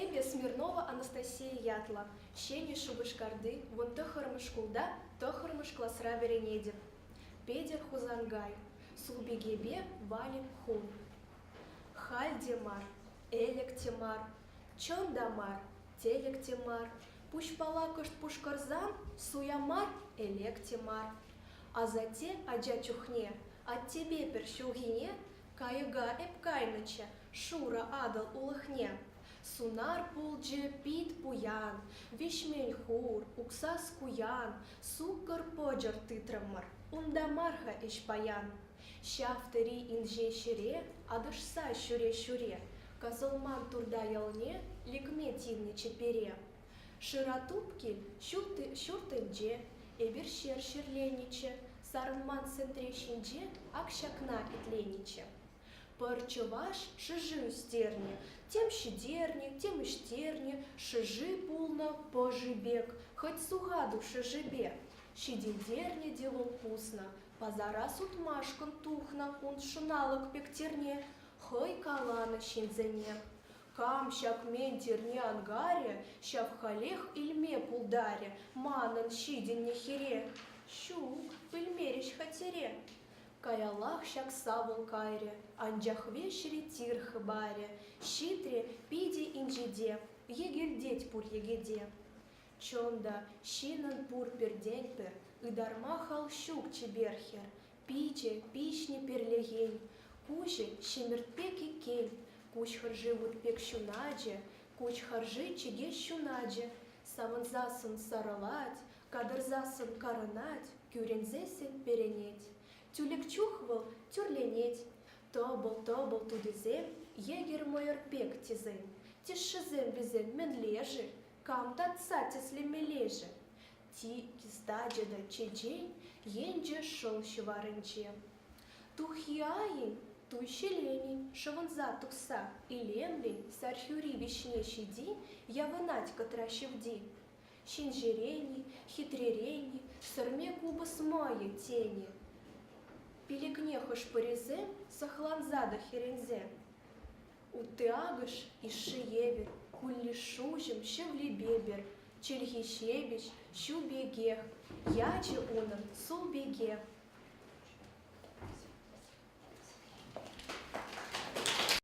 Эпӗ Смирнова Анастасия ятлӑ, ҫӗнӗ Шупашкарти вун тӑххӑрмӗш шкулта тӑххӑрмӗш класра вӗренетӗп. Петӗр Хусанкай, Сулпикепе Валик хун. Халь те мар, ӗлӗк те мар, чӑн та мар, тӗлӗк те мар, пуҫпала кӑшт пушкӑрсан суя мар, элек те мар. Асатте ача чухне, аттепе пӗр ҫулхине Кайӑка эп кайнӑччӗ шурӑ Атӑл улӑхне. Сунар пулчӗ пит пуян, виҫмен хур, уксас куян, суккӑр-почӑр тытрӑмӑр, унта мар-ха ӗҫ паян. Ҫав тери инҫе ҫӗре атӑшса ҫӳре-ҫӳре, касӑлман турта ялне лекме тивнӗччӗ пире. Шыра Тупки ҫуртӗнче эпир ҫер ҫӗрленӗччӗ, сарӑман сентре ҫинче ак ҫакна итленӗччӗ. Пӗр чӑваш шӑши ӳстернӗ, тем ҫитернӗ, тем ӗҫтернӗ шӑши пулнӑ пӑши пек, хӑть сухатук шӑшипе ҫитӗнтернӗ те вӑл пуснӑ. Пасара сутмашкӑн тухнӑ кун шӑналӑк пек тирне хӑй каланӑ ҫынсене. Кам ҫак мен тирне анкарӗ, ҫав халех илме пултарӗ манӑн ҫитӗннӗ хире. Ҫук, пӗлмерӗҫ-ха тире. Каялах ҫак савӑл кайрӗ, анчах веҫре тир хӑпарӗ, ҫитрӗ питӗ инҫете, йӗкӗлтет пур йӗкӗте. Чӑн та, ҫынӑн пур пӗртен-пӗр ытарма хал ҫук чипер хӗр, Пичӗ, пиҫнӗ перлехен, куҫӗ ҫӗмӗрт пек иккен, куҫ хӑрши вут пек ҫуначӗ, куҫ хӑрши чӗкеҫ ҫуначӗ, савӑнсассӑн сарӑлать, катӑрсассӑн карӑнать, кӳренсессӗн перӗнет. Тӳлек чух вӑл тӳрленет. Тӑпӑл-тӑпӑл тутисем йӗкӗр-мӑйӑр пек тесен, тӗшшисем вӗсем мӗнле-ши? Кам татса тӗслемелле-ши? Ти стачӗ та чечен енчӗ шӑл ҫӑварӗнче. Туххи-айӗн туй ҫӗленӗн шӑвӑнса тухса илемлӗн Сархӳри вӗҫне ҫити явӑнать кӑтра ҫӑвти. Ҫинҫерен-и, хитререн-и, сӗрме купӑс мӑйӗ тенӗ. Пилӗкне хӑш-пӗрисем сӑхланса та хӗренсе. Ытти акӑш йышши евӗр, куллиш-шуҫӑм, шевлепепер, чӗлхи ҫепӗҫ, ҫу пекех, ячӗ унӑн, сул пекех.